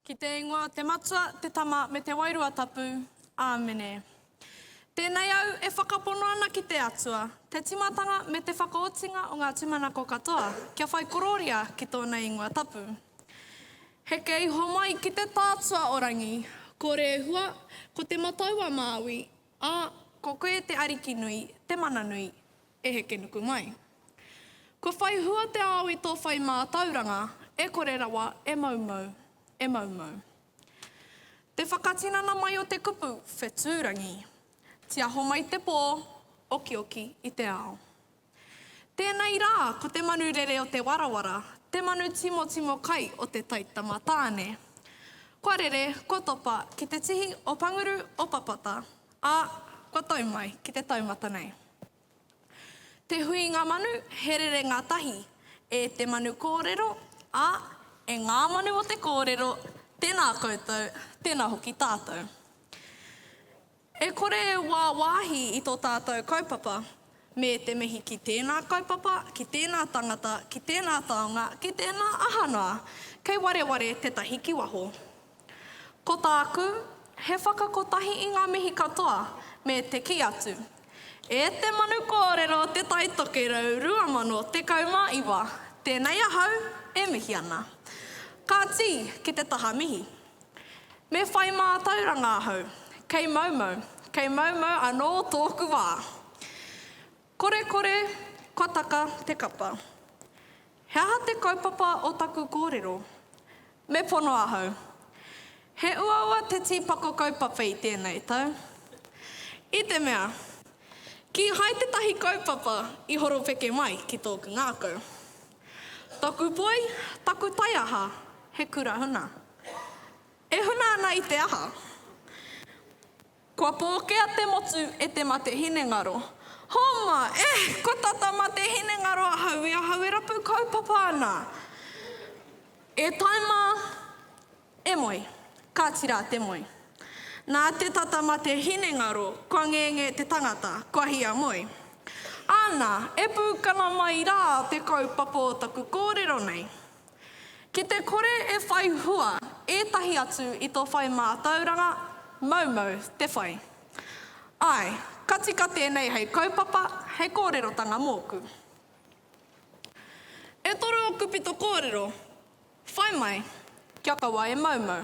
Ki te ingoa te Matua, te Tama, me te Wairua Tapu. Āmene. Tēnei au e whakapono ana ki te Atua, te tīmatanga me te whakaotinga o ngā tūmanako katoa, kia whai korōria ki tōna ingoa tapu. Heke iho mai ki te Tātua o Rangi, ko Rehua, ko Te Matau-a-Māui, Ā, ko koe te Ariki nui, te Mana nui, e heke nuku mai. Kua whai hua te ao i tō whai mātauranga, e kore rawa e moumou, e moumou. Te whakatinana mai o te kupu whetūrangi, tiaho mai te pō, okioki i te ao. Tēnei rā, ko te manu rere o te warawara, te manu timotimo kai o te taitama tāne. Kua rere, kua topa ki te tihi o Panguru o Papata, ā, kua tau mai ki te taumata nei. Te huinga manu, he rerenga tahi e te manu kōrero, ā, e ngā manu o te kōrero, tēnā koutou, tēnā hoki tātou. E kore e wāwāhi i tō tātou kaupapa, me te mihi ki tēnā kaupapa, ki tēnā tangata, ki tēnā taonga, ki tēnā aha noa, kei wareware tētahi ki waho. Ko tāku, he whakakotahi i ngā mihi katoa, me te kī atu, E te Manu Kōrero Te Tai Tokerau 2019, tēnei ahau e mihi ana. Kāti, ki te taha mihi. Me whai mātauranga ahau. Kei maumau, kei maumau anō tōku wā. Kore kore, kua taka te kapa. He aha te kaupapa o taku kōrero? Me pono ahau. He uaua te tīpako kaupapa i tēnei tau. I te mea, kīhai tētahi kaupapa i horopeke mai ki tōku ngākau. Taku poi, taku taiaha, he kura huna. E huna ana i te aha? Kua pōkea te motu e te mate hinengaro. Homa! Eh! Kua tata mate hinengaro ahau i ahau e rapu kaupapa ana! E taima! E moe. Ka tira te moe. Nā te tata ma te hinengaro kua ngenge te tangata, kua hia moe. Ana, e pūkana mai rā te kaupapa o taku kōrero nei. Ki te kore e whai hua ētahi atu i to whai mātauranga, maumau te whai. Ae, ka tika tēnei hei kaupapa, hei kōrerotanga mōku. E toru oku pito kōrero, Whai mai, kia kaua e maumau.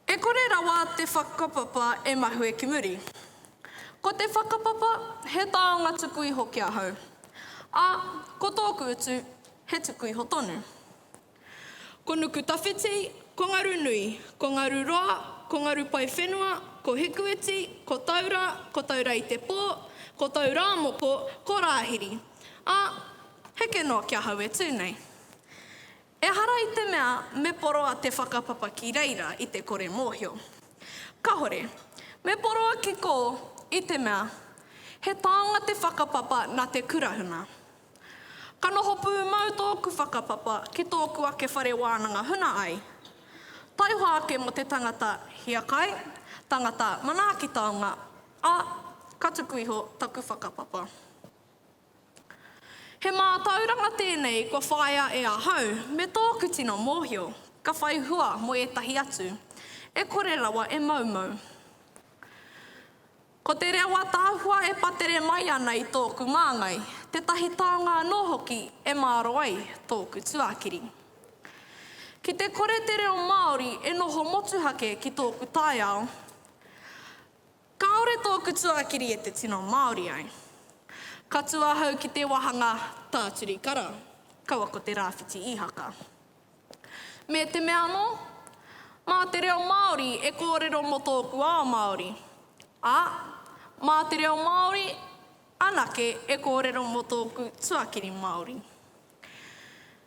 E kore rawa te whakapapa e mahue ki muri. Ko te whakapapa, he taonga tuku iho ki ahau, a, ko tōku utu, he tuku iho tonu. Ko Nukutawhiti, ko Ngarunui, ko Ngaruroa, ko Ngarupaiwhenua, ko Hikuiti, ko Taura, ko Taura-i-te-pō, ko Taurāmoko, ko Rāhiri, a, Heke noa ki ahau e tū nei. Ehara i te mea me poroa te whakapapa ki reira i te kore mōhio. Kahore. Me poroa ki kō i te mea he tānga te whakapapa na te kurahuna. Ka noho pūmau tōku whakapapa ki tōku ake whare wānanga huna ai. Taihoa ake mo te tangata hiakai, tangata manaaki taonga, a ka tuku iho taku whakapapa. He mātauranga tēnei kua whāia e ahau me tōku tino mōhio, ka whai hua mō ētahi atu, e kore rawa e moumou. Ko te reo ataahua e patere mai ana i tōku māngai, tētahi taonga anō hoki e māro ai tōku tuakiri. Ki te kore te reo Māori e noho motuhake ki tōku taiao, Kāore tōku tuakiri e te tino Māori ai. Ka tū ahau ki te wāhanga tāturi kara, kaua ko te rāwhiti īhaka. Me te mea anō, mā te reo Māori e kōrero mō tōku ao Māori, ā, mā te reo Māori anake e kōrero mō tōku tuakiri Māori.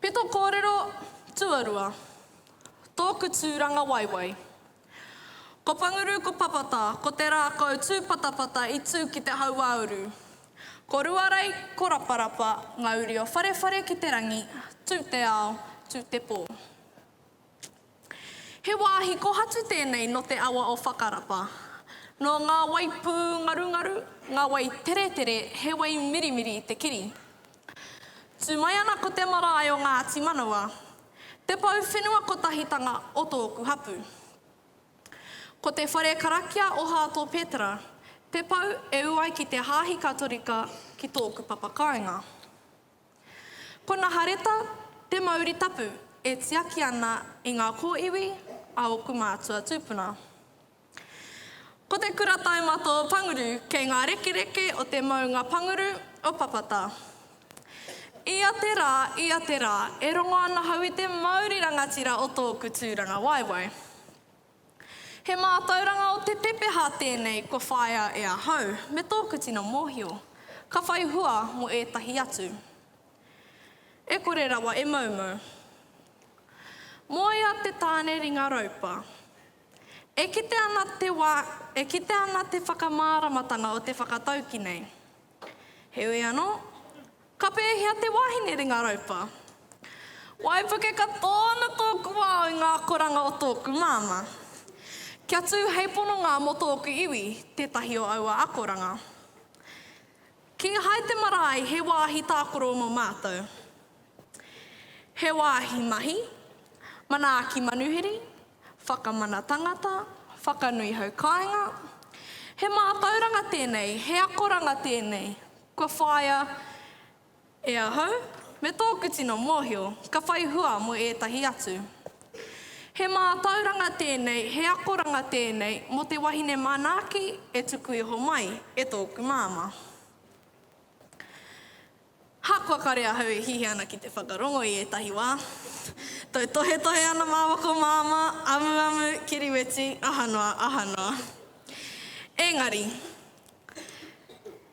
Peto kōrero tuarua, tōku tūranga waiwai. Ko Panguru ko Papata ko te rākau tūpatapata i tū ki te hauāuru. Ko Ruarei ko Raparapa ngā uri o Wharewhare ki te rangi, tū te ao, tū te pō. He wāhi kohatu tēnei nō te awa o Whakarapa. Nō ngā wai pūngarungaru, ngā wai teretere he wai mirimiri te kiri. Tū mai ana ko te marae o Ngāti Manawa, te pou whenua kotahitanga o tōku hapū. Ko te whare karakia o Hāto Petera te pou e ū ai ki te hāhi Katorika ki tōku papa kāinga. Ko Nahareta te mauri tapu e tiaki ana i ngā kōiwi a ōku mātua tūpuna. Ko te kura taimato o Panguru kei ngā rekereke o te maunga Panguru o Papata. Ia te rā, ia te rā, e rongo ana hau i te mauri rangatira o tōku tūrangawaewae. He mātauranga o te pepeha tēnei kua whāia e ahau me tōku tino mōhio, ka whai hua mō ētahi atu. E kore rawa e moumou. Moea te tāne ringa raupa. E kite ana te wā, e kite ana te whakamāramatanga o te whakataukī nei. Heoi anō, ka pēhea te wāhine ringa raupa? Waipuke katoa ana tōku ao i ngā akoranga o tōku māmā. Kia tū hei pononga mō tōku iwi tētahi o aua akoranga. Kīhai te marae he wāhi tākoro mō mātou. He wāhi mahi, manaaki manuhiri, Whakamana tangata, whakanui hau kāinga. He mātauranga tēnei, he akoranga tēnei, kua whāia e ahau, me tōku tino mōhio, ka whai hua mō ētahi atu. He mātauranga tēnei, he akoranga tēnei mō te wahine manaaki e tuku iho mai e tōku māmā. Ahakoa kare ahau e hihi ana ki te whakarongo i ētahi wā, tautohetohe ana māwako māmā, amuamu, kiriweti, aha noa, aha noa. Ēngari,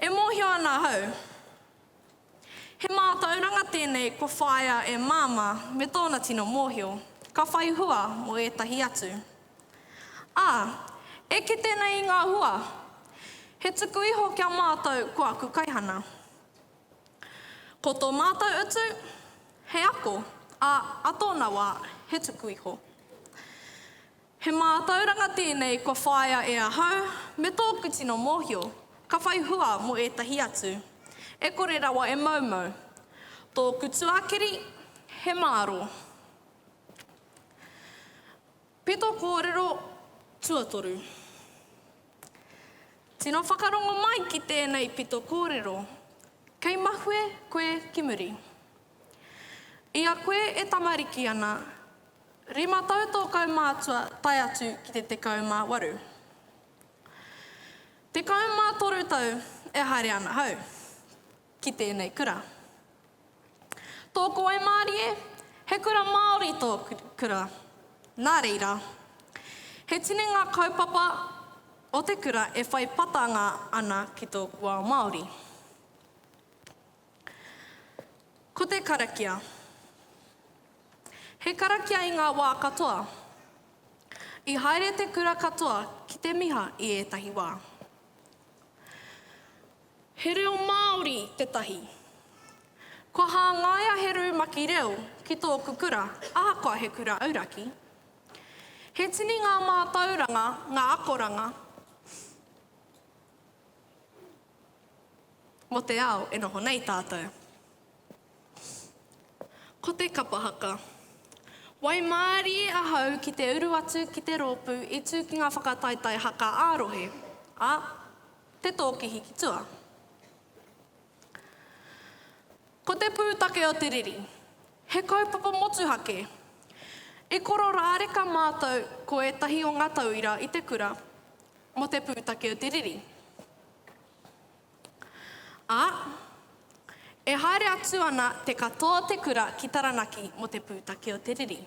e mōhio ana ahau, he mātauranga tēnei kua whāia e Māmā me tōna tino mōhio, ka whai hua mō ētahi atu. Ā, e kite nei i ngā hua, he tuku iho ki a mātou ko aku kaihana. Ko tō mātou utu, he ako, ā, a tōna wā, he tuku iho. He mātauranga tēnei kua whāia e ahau me tōku tino mōhio, ka whai hua mō ētahi atu, e kore rawa e moumou. Tōku tuakiri, he māro. Peto kōrero tuatoru Tino whakarongo mai ki tēnei peto kōrero, kei mahue koe ki muri. I a koe e tamariki ana, rima tau tō kaumātua tae atu ki te tekau mā waru. Tekau mā toru tau e haere ana hau. ki tēnei kura. Tōku waimārie, he kura Māori tō kura. Nā reira, he tini ngā kaupapa o te kura e whai patanga ana ki tōku ao Māori. Ko te karakia. He karakia i ngā wā katoa. I haere te kura katoa ki te miha i ētahi wā. He reo Māori tētahi. Kua hāngaia he rumaki reo ki tōku kura ahakoa he kura auraki. He tini ngā mātauranga, ngā akoranga mō te ao e noho nei tātou. Ko te kapa haka. Waimārie ahau ki te uru atu ki te rōpū i tū ki ngā whakataetae haka ā-rohe, ā, Te Tōkihi ki tua. Ko te pūtake o te riri, he kaupapa motuhake. I kororāreka mātou ko ētahi o ngā tauira i te kura mō te pūtake o te riri. Ā, e haere atu ana te katoa o te kura ki Taranaki mō te pūtake o te riri.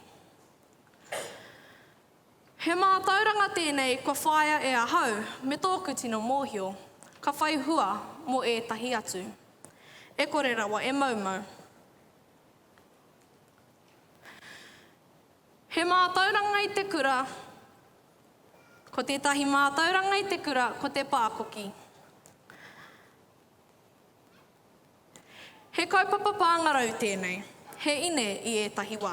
He mātauranga tēnei kua whāia e ahau me tōku tino mōhio, ka whai hua mō ētahi atu. E kore rawa e moumou. He mātauranga i te kura Ko tētahi mātauranga i te kura ko te pākoki. He kaupapa pāngarau tēnei, he ine i ētahi wā.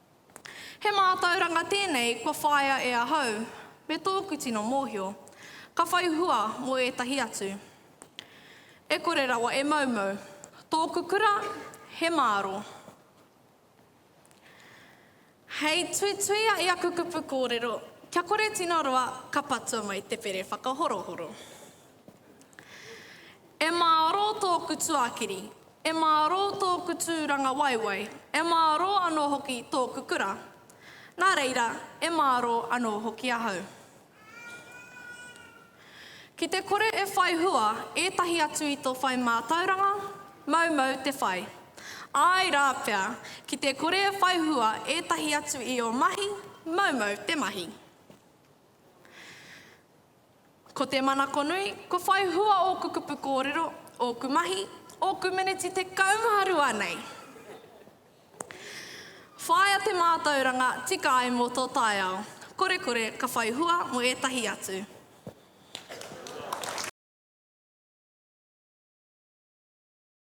He mātauranga tēnei kua whāia e ahau me tōku tino mōhio, ka whai hua mō ētahi atu. E kore rawa e moumou. Tōku kura, he māro. Hei tuituia i aku kupu kōrero, kia kore tino roa ka patua mai te pere whakahorohoro. E mārō tōku tuakiri, e mārō tōku tūrangawaewae, e mārō anō hoki tōku kura. Nā reira, e mārō anō hoki ahau. Ki te kore e whai hua ētahi atu i tō whai mātauranga, maumau te whai. Āe rā pea, ki te kore e whai hua ētahi atu i ō mahi, maumau te mahi. Ko te manako nui, kua whai hua ōku kupu kōrero, ōku mahi, ōku meneti tekau mā rua nei. Whāia te mātauranga tika ai mō tō taiao. Korekore ka whai hua mō ētahi atu.